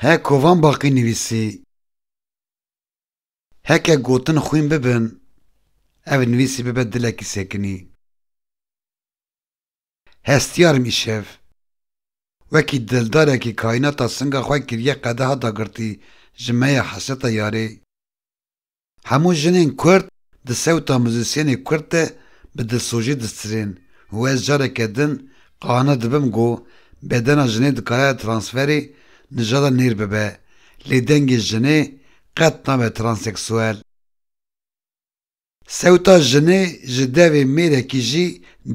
He kovan baqî nivîsî. Heke gotin xwîn bibin, ev nivîsî bibe dilekî sekinî. Hestîyarim îşev. Wekî dildarekî kaînata singa xwe kiriye qedeha dagirtî ji me ya hesreta yarê. Hemû jinên kurd di sewta muzîsyenê kurd de bi dilsojî distrên û ez careke din qane dibim ku bedena jinê dikare transferê nijada nêr bibe lê dengê jinê qet nabe transeksuel. Sewta jinê ji devê mêrekî jî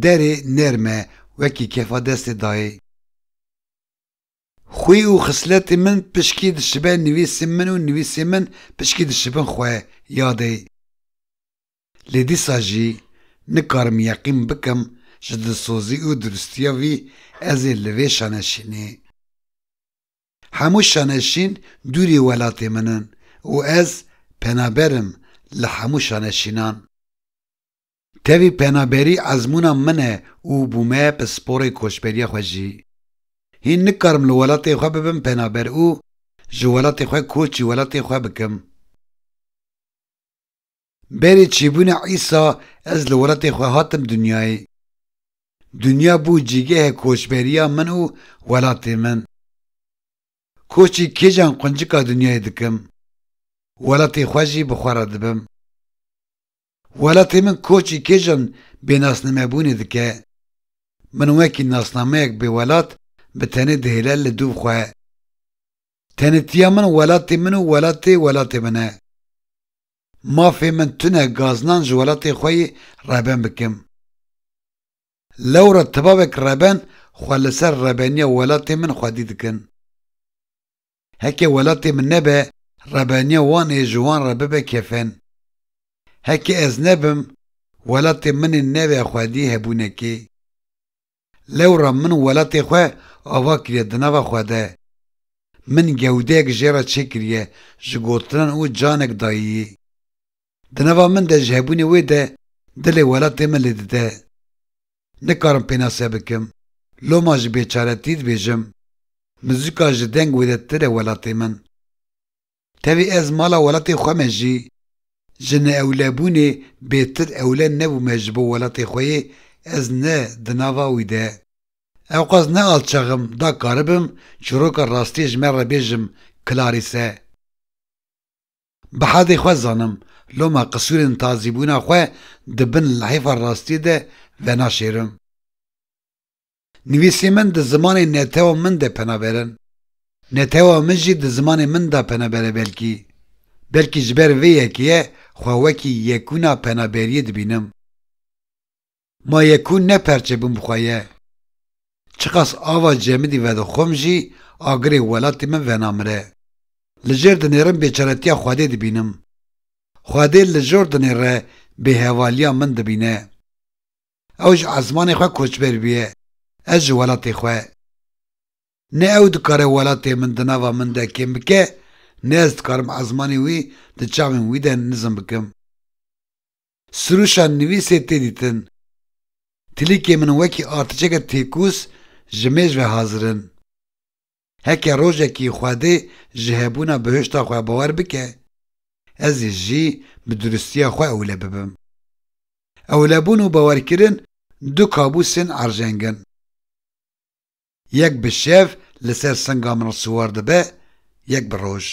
derê nerm e wekî kefa destê dayê. Xwî û xisletên min pişkî dişibe nivîsên min û nivîsên min pişkî dişibin xwe yadê. Lê dîsa jî nikarim yeqîn bikim ji dilsozî û duristiya vî ez ê li vê şaneşînê. Hemû şaneşîn dûrî welatê min in û ez penaber im li hemû şaneşînan. Tevî penaberî ezmûna min e û bûme pisporê koçberiya xwe jî. Hîn nikarim li welatê xwe bibim penaber û ji welatê xwe koçî welatê xwe bikim. Berî çîbûna Îsa ez li welatê xwe hatim dinyayê. Dinya bû cîgehê koçberiya min û welatê min. Koçî kêjan quncika dinyayê dikim. Welatê xwe jî bi xwe re dibim. Welatê min koçî kêjan bênasnamebûnê dike. Min wekî nasnameyek bêwelat bi tenê dihêle li dûv xwe. Tenêtiya min welatê min û welatê welatê min e. Mafê min tune gaznan ji welatê xwe yê reben bikim. Lewra tibavek reben xwe li ser rebeniya welatê min xwedî dikin. Heke welatê min nebe, rebeniya wan ê ji wan re bibe kefen. Heke ez nebim, welatê min ê nebe xwedî hebûnekê. Lewra min welatê xwe ava kiriye di nava xwe de. Min gewdeyek jê re çêkiriye ji gotinan û canek dayîyî. Di nava min de ji hebûnê wê de dilê welatê min lê dide. Nikarim pênase bikim, loma ji bêçaretî dibêjim, muzika ji deng wê de tire welatê min. Tevî ez mala welatê xwe me jî, ji neewlebûnê bêtir ewle nebûme ji bo welatê xwe yê ez ne di nava wî de. Ewqas ne alçaxim da karibim çîroka rastiyê ji me re bêjim Clarisse. Bi hadê xwe zanim loma qisûrên tazîbûna xwe di bin lihêfa rastiyê de venaşêrim. Nivîsên min di zimanê netewa min de penaberin. Netewa min jî di zimanê min de penabere belkî. Belkî ji ber vê yekê ye xwe wekî yekûna penaberiyê dibînim. Ma ye ku ne perçe bûm bi xwe ye. Çiqas ava cemidî vedixwim jî agirê welatê min venamire. Li jêr dinêrim bêçaretiya Xwedê dibînim. Xwedê li jor dinê re bêhevaliya min dibîne. Ew ji esmanê xwe koçber bûye, ez ji welatê xwe. Ne ew dikare welatê min di nava min de kêm bike, ne ez dikarim esmanê wî di çavên wî de nizm bikim. Sirûşa nivîsê tê dîtin. Tilîkê min wekî artêşeke têkûs ji mêj ve hazir in. Heke rojekî Xwedê ji hebûna bihişta xwe bawer bike, ez ê jî bi duristiya xwe ewle bibim. Ewlebûn û bawerkirin du kabûsên erjeng in. Yek bi şev li ser singa min siwar dibe, yek bi roj.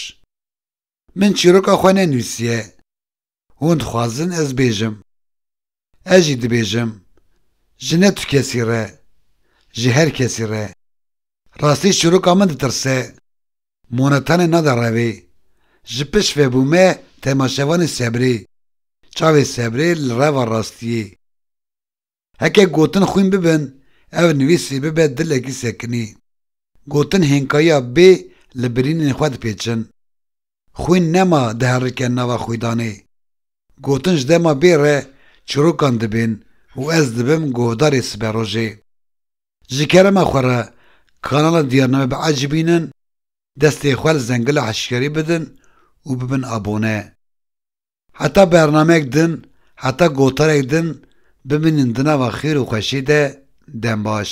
Min çîroka xwe nenûsiye. Hûn dixwazin ez bêjim. Ez jî dibêjim. Ji ne tu kesî re. Ji her kesî re. Rastî çîroka min ditirse. Monetanê nade revê. Ji pişt vebûme temaşevanê sebrê. Çavê sebrê li reva rastiyê. Heke gotin xwîn bibin, ev nivîsî bibe dilekî sekinî. Gotin hênkayiya bê li birînên xwe dipêçin. Xwîn nema diherike nava xwîdanê. Gotin ji dema bê re çîrokan dibên û ez dibim guhdarê siberojê. Ji kerema xwe re kanala Diyarname biecîbînin, destê xwe li zengila hişyarî bidin û bibin abone. Heta bernameyek din, heta gotarek din bimînin di nava xêr û xweşiyê de dem baş.